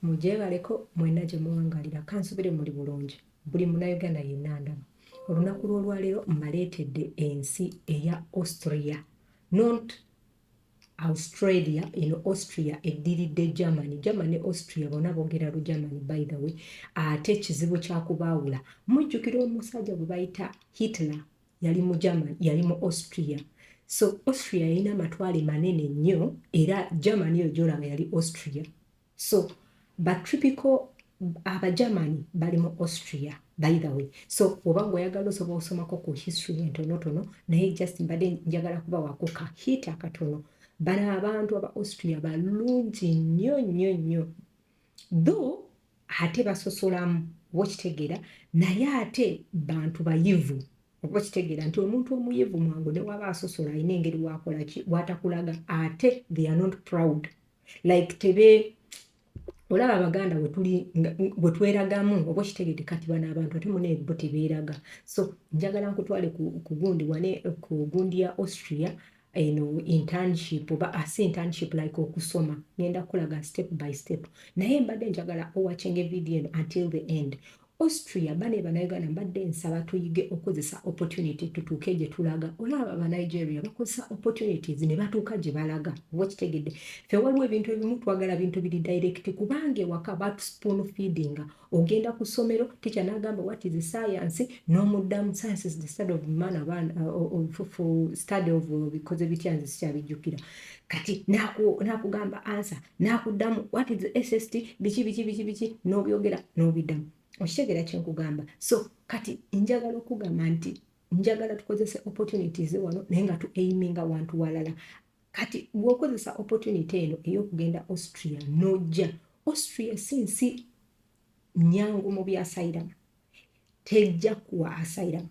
mugyebaleko mwena gye muwangalira kansubire muli bulungi buli munayuganda yenna ndaba olunaku lw'olwaleero mmaleetedde ensi eya austria not Australia eno Austria eddiridde Germany. Germany ne Austria bona boogera lu Germany by the way. Ate ekizibu kya kubaawula. Mujjukira omusajja gwe bayita Hitler yali mu Germany, yali mu Austria. So Austria yalina amatwale manene nnyo era Germany yo gyolaba yali Austria. so ba tripical abagermany bali mu austria by the way so oba ngaoyagala osobola osomako ku history entonotono naye just mbadde njagala kuba wakuka hit akatono bano abantu aba austria balungi nnyo nnyo nnyo tho ate basosolamu oba okitegeera naye ate bantu bayivu oba okitegeera nti omuntu omuyivu mwangu newaba asosola alina engeri wakolaki watakulaga ate they are not proud like tebe olaba abaganda wetuli wetweragamu oba okitegede kati bano abantu ate muna ebo tebeeraga so njagala nkutwale kugundi wane ku gundi ya austria eno internship oba asi ah, internship like okusoma ngenda kukulaga step by step naye mbadde njagala owachinga evidiyo eno until the end Austria bane banauganda mbadde nsaba tuyige okozesa opportunity tutuuke gye tulaga olaba ba Nigeria bakozesa opportunities ne batuuka gye balaga oba kitegedde fe waliwo ebintu ebimu twagala bintu biri direct kubanga ewaka batu spoon feeding ogenda ku ssomero teacher n'agamba what is science n'omuddamu science is the study of man abaana uh, of, of, of study of uh, bikoze bitya nze sikyabijjukira kati nakugamba ansa nakuddamu what is sst biki biki biki biki nobyogera nobiddamu okitegera kyenkugamba so kati njagala okugamba nti njagala tukozese opportunities wano naye nga tu aiminga wantu walala kati bwokozesa opportunity eno eyokugenda austria nojja austria si nsi nyangu mu byasayiramu tejja kuwa asayiramu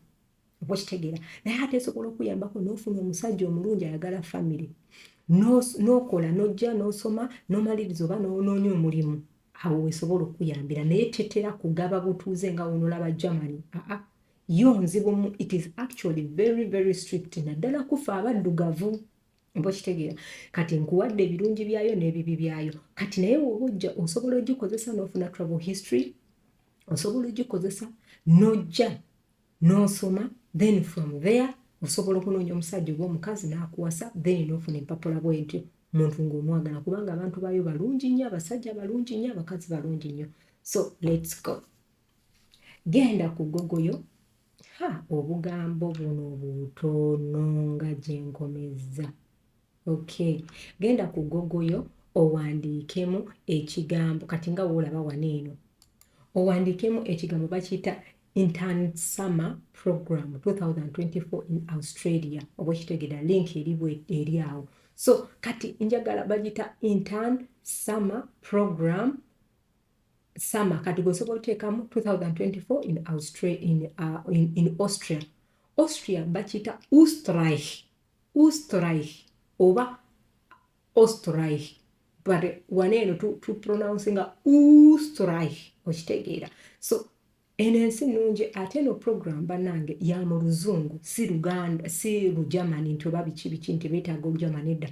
okitegeera naye ate esobola okuyambako n'ofuna omusajja omulungi ayagala famire n'okola n'ojja n'osoma n'omaliriza oba n'onoonya omulimu awo wesobola okuyambira naye tetera kugaba butuuze nga wonolaba germany aa yo nzibu it is actually very very strict naddala kufa abaddugavu oba okitegeera kati nkuwadde ebirungi byayo n'ebibi byayo kati naye woba ojja osobola ogikozesa n'ofuna travel history osobola ogikozesa n'ojja n'osoma then from there osobola okunoonya omusajja oba omukazi n'akuwasa then n'ofuna empapula bwentyo muntu ng'omwagala kubanga abantu baayo balungi nnyo abasajja balungi nnyo abakazi balungi nnyo so let's go genda ku gogoyo ha obugambo buno butono nga gyenkomezza Okay. Genda ku Google yo owandiikemu ekigambo kati nga woolaba wano eno owandiikemu ekigambo bakiyita intern summer program 2024 in australia oba okitegeda link eribwe eri awo so kati njagala bagiyita intern summer program summer kati gweosobola oteekamu 2024 in austria in, uh, in, in austria austria bakiyita ustrich Österreich oba Österreich but wano eno tu, tu pronouncinga Österreich okitegeera so eno ensi nungi ate eno program banange ya mu luzungu si luganda si lugermany nti oba biki biki nti betaaga olugermany edda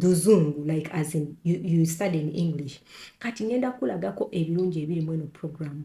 luzungu like as in you, you study in english kati ngenda kulagako ebirungi ebiri mu eno program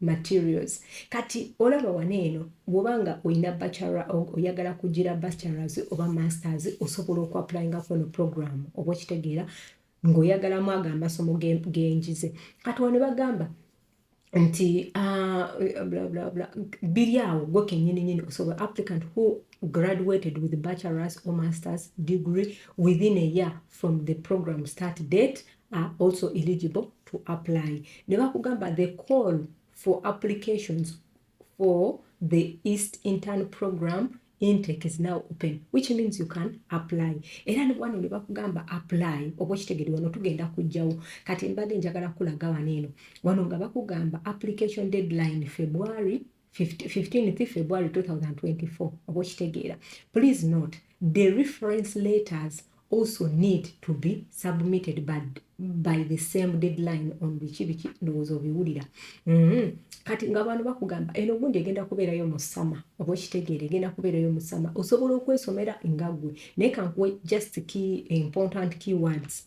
materials kati olaba wano eno bwoba nga olina bachelor oyagala kugira bachelors oba masters osobola okuapplyingako ono program oba okitegeera ng'oyagalamu ago amasomo genjize kati wano bagamba nti ah, biri awo gwe kenyininyini osobola applicant who graduated with bachelors or masters degree within a year from the program start date are also eligible to apply ne bakugamba the call for applications for the east intern program intake is now open which means you can apply era wano ne bakugamba apply oba okitegede wano tugenda kujjawo kati mbadde njagala kulaga wano eno wano nga bakugamba application deadline february 15th February 2024 oba okitegeera please note the reference letters also need to be submitted by, by the same deadline on biki biki ndowooza obiwulira mm -hmm. kati nga abantu bakugamba eno gundi egenda kubeerayo mu sama oba okitegeera egenda kubeerayo mu sama osobola okwesomera nga gwe naye kankuwe just key important keywords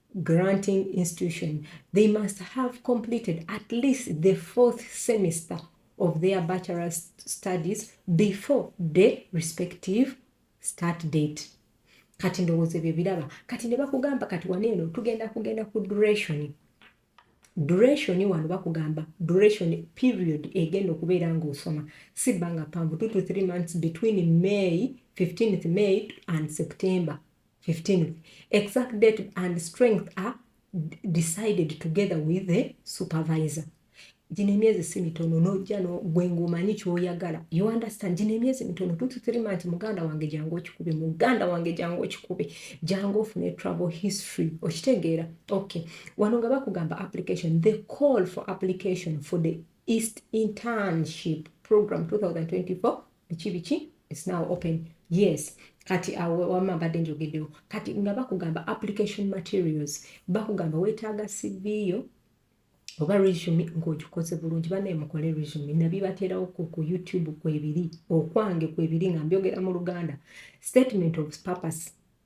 granting institution they must have completed at least the fourth semester of their bachelor studies before the respective start date kati ndowooza ebyo biraba kati ne bakugamba kati wano eno tugenda kugenda ku duration duration wano bakugamba duration period egenda okubeera ngaosoma si bbanga panvu two to three months between may 15th may and september 15th exact date and strength are decided together with the supervisor gino emyezi si mitono nojja gwe ngaomanyi kyoyagala you understand gino emyezi mitono tututirima nti muganda wange jangu okikube muganda wange jangu okikube jangu ofune travel history okitegeera okay wano nga bakugamba application the call for application for the east internship program 2024 biki biki it's now open yes kati awo wama mbadde njogeddewo kati nga bakugamba application materials bakugamba weetaaga cv yo oba resume ng'ogikoze bulungi banaye mukole resume nabibateerawo ku youtube kwebiri okwange kwebiri nga mbyogera mu luganda statement of purpose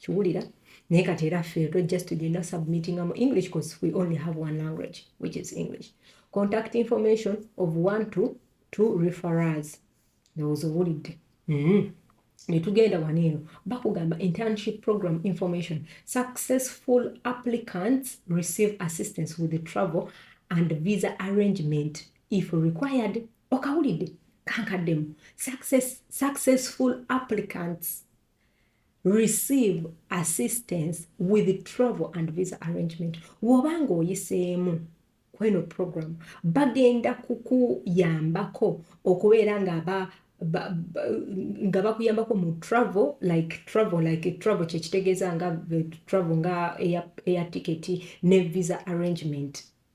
kiwulira naye kati era ffe to just tugenda submitting mu english cause we only have one language which is english contact information of one to two referers ndowooza owulidde mm -hmm. netugenda wano eno bakugamba internship program information successful applicants receive assistance with the travel and visa arrangement if required okawulidde kankaddemu success, successful applicants receive assistance with travel and visa arrangement woba nga oyiseemu kweno program bagenda kukuyambako okubeera nga ba nga bakuyambako mu travel like travel like travel kyekitegeeza nga travel nga eya tiketi ne visa arrangement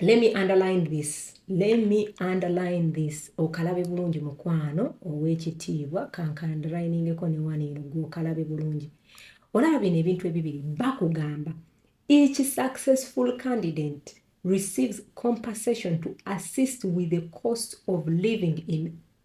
let me underline this let me underline this okalabe bulungi mukwano ow'ekitiibwa kankandrainingeko ne wano eno gwe okalabe bulungi olaba bino ebintu ebibiri bakugamba each successful candidate receives compensation to assist with the cost of living in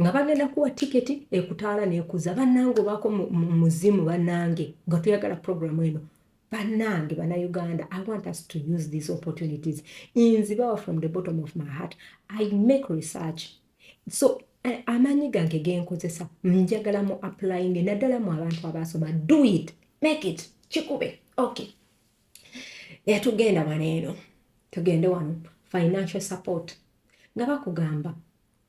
nga bagenda kuwa tiketi ekutaala nekuza banange obaako muzimu banange nga tuyagala programu eno banange banauganda i want us to use these opportunities inzibawa from the bottom of my heart i make research so eh, amaanyi gange genkozesa njagala mu applyinge naddala mu abantu abaasoma do it make it kikube okay naye tugenda wano eno tugende wano financial support nga bakugamba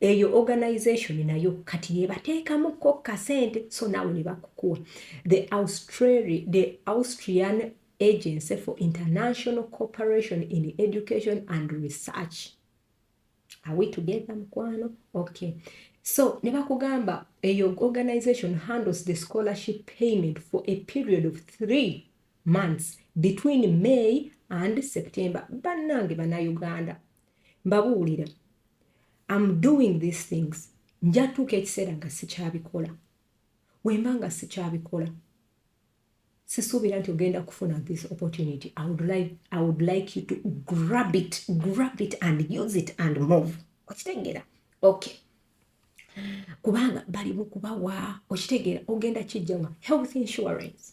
eyo organization nayo kati yebateekamu ko kasente so nawe ne bakukuwa the, Australia, the austrian agency for international cooperation in education and research are we together mukwano okay so ne bakugamba eyo organization handles the scholarship payment for a period of three months between may and september bannange banauganda mbabuulira am doing these things njatuuka ekiseera nga sikyabikola wemba nga sikyabikola sisuubira nti ogenda kufuna this opportunity I would, like, i would like you to grab it grab it and use it and move okitegeera okay kubanga bali mukubawa okitegeera ogenda kijjawa health insurance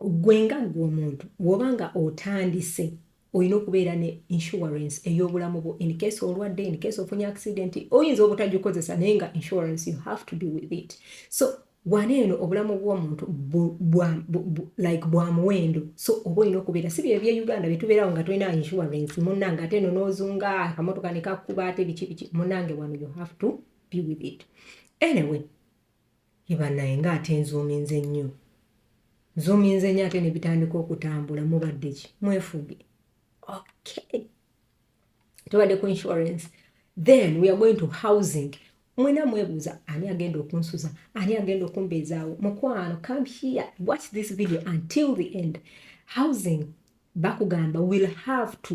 gwe nga gwe omuntu woba nga otandise olina okubeera ne insurance ey'obulamu bwo in case olwadde in case ofunye accident oyinza obutagikozesa naye nga insurance you have to be with it so wano eno obulamu bw'omuntu like bwa muwendo so oba olina okubeera si byebye uganda byetubeerawo nga tulina insurance munange ate eno n'ozunga akamotoka nekakkuba ate biki biki munange wano you have to be with it anyway Yii banaye nga ate nzuminze nnyo nzuminze nnyo ate nebitandika okutambula mubaddeki mwefuge okay tubadde ku insurance then we are going to housing mwena mwebuuza ani agenda okunsuza ani agenda okumbeezaawo mukwano come here watch this video until the end housing bakugamba will have to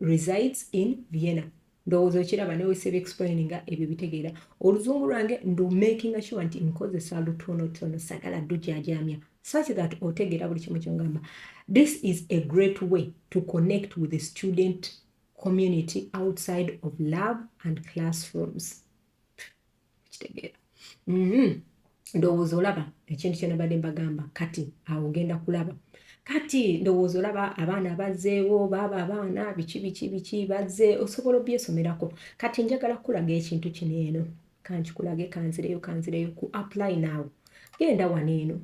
resides in vienna ndowooza okiraba newe sebe explaininga ebyo bitegeera oluzungu lwange ndu makinga sure nti nkozesa lutonotono sagala dujajamya such that otegeera buli kimu kyongamba this is a great way to connect with the student community outside of love and classrooms kitegeera mm-hmm. ndowooza olaba ekintu kyenabadde mbagamba kati awo ogenda kulaba kati ndowooza olaba abaana bazeewo baaba abaana biki biki biki baze osobola obyesomerako kati njagala kukulaga ekintu kino eno kankikulage kanzireyo kanzireyo ku apply now genda wano eno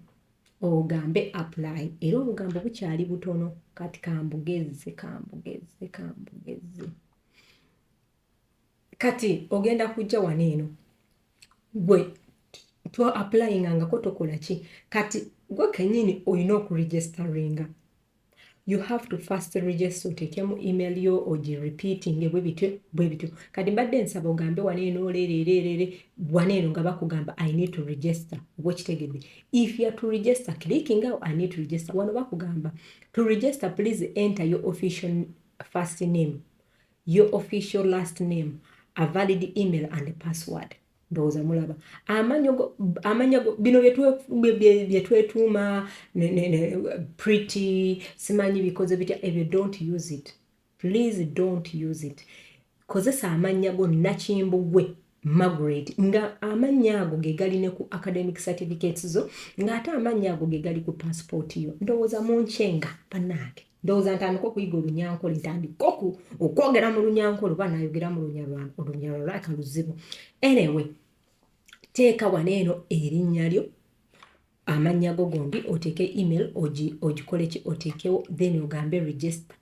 ogambe apply era obugambo bukyali butono kati kambugezze kambugezze kambugezze Kati ogenda kujja wano eno gwe to applying angako tokola ki kati gwe kenyini olina okuregisteringa you have to first register otekemu email yo ogi repeating bwe bityo bwe bityo kati mbadde nsaba ogambe wano eno leereereerere wano eno nga bakugamba i need to register oba okitegedde if youare to register clicking out i need to register wano bakugamba to register please enter your official first name your official last name a valid email and password ndowooza mulaba amanya bino byetwetuuma pretty simanyi bikoze bitya ebyo don't use it please don't use it kozesa amannya go nakimbugwe Margaret nga amannya ago ge gali ne ku academic certificates zo ng'ate amannya ago ge gali ku paasipooti yo ndowooza mu nkyenga bannange ndowooza ntandika okuyiga olunyankole ntandika oku okwogera mu lunyankole oba nayogera mu lunyalwana olunyalwalaka luzibu anyway teeka wano eno erinnya lyo amannya go gombi oteeke email ogikoleki oteekewo then ogambe register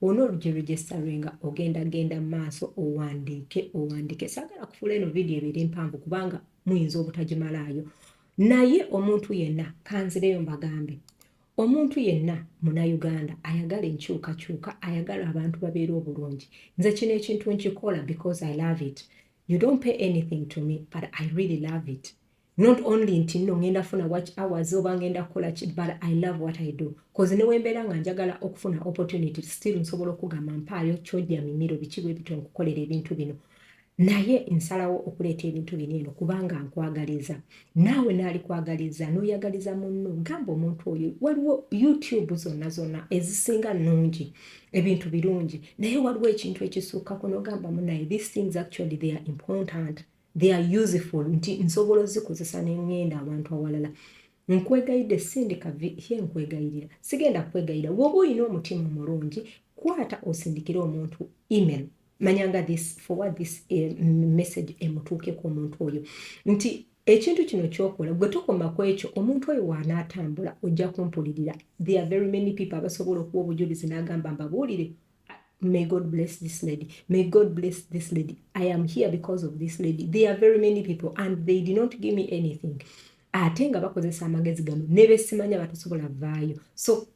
Ono olugero register nga ogenda genda maaso owandiike owandiike sagala kufula eno video ebiri mpanvu kubanga muyinza obutagimalaayo naye omuntu yenna kanzireyo mbagambe omuntu yenna munauganda ayagala enkyukakyuka ayagala abantu babeera obulungi nze kino ekintu nkikola because i love it you don't pay anything to me but i really love it not only nti no ngenda funa watch hours oba ngenda kukola ki but i love what i do bcause newembeera nga njagala okufuna opportunity still nsobola okugamba mpaayo kyoja mimiro biki bwe bityo nkukolera ebintu bino naye nsalawo okuleeta ebintu bino eno kubanga nkwagaliza naawe naalikwagaliza n'oyagaliza munno gamba omuntu oyo waliwo youtube zonna zonna ezisinga nnungi ebintu birungi naye waliwo ekintu ekisukkako n'ogamba munaye these things actually they are important they are useful nti nsobola ozikozesa nengenda abantu awalala nkwegayidde sindika ye nkwegayirira sigenda kwegayira woba olina omutima omulungi kwata osindikire omuntu email manyanga this forward this eh, message emutuukeko omuntu oyo nti ekintu kino kyokola gwe tokoma ku ekyo omuntu oyo waanaatambula ojja kumpulirira there are very many people abasobola okuwa obujulizi n'agamba mbabuulire may God bless this lady. May God bless this lady. I am here because of this lady. There are very many people and they did not give me anything. ate nga bakozesa amagezi gano ne besimanya batasobola vaayo so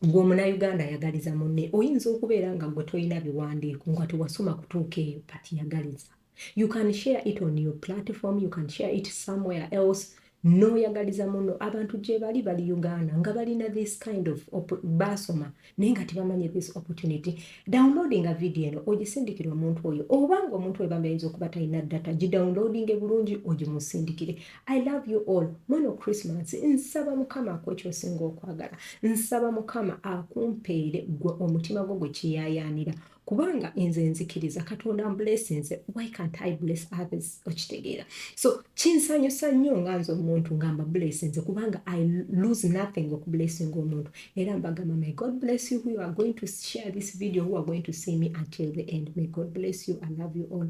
gwe omunauganda ayagaliza munne oyinza okubeera nga gwe tolina biwandiiko nga tewasoma kutuuka eyo but yagaliza you can share it on your platform you can share it somewhere else noyagaliza muno abantu gyebali bali uganda nga balina this kind of basoma naye nga tebamanyi this opportunity downloading a video eno ogisindikire omuntu oyo oba nga omuntu oyo bambayinza okuba talina data gidownloading bulungi ogimusindikire i love you all mweno christmas nsaba mukama akwekyosinga okwagala nsaba mukama akumpeere gwe omutima gwo gwe kiyayaanira kubanga nze nzikiriza katonda mblesinze why can't i bless others okitegeera so kinsanyusa nnyo nga nze omuntu nga mbablesinze kubanga i lose nothing okublesinga omuntu era mbagamba may god bless you who are going to share this video who are going to see me until the end may god bless you i love you all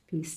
peace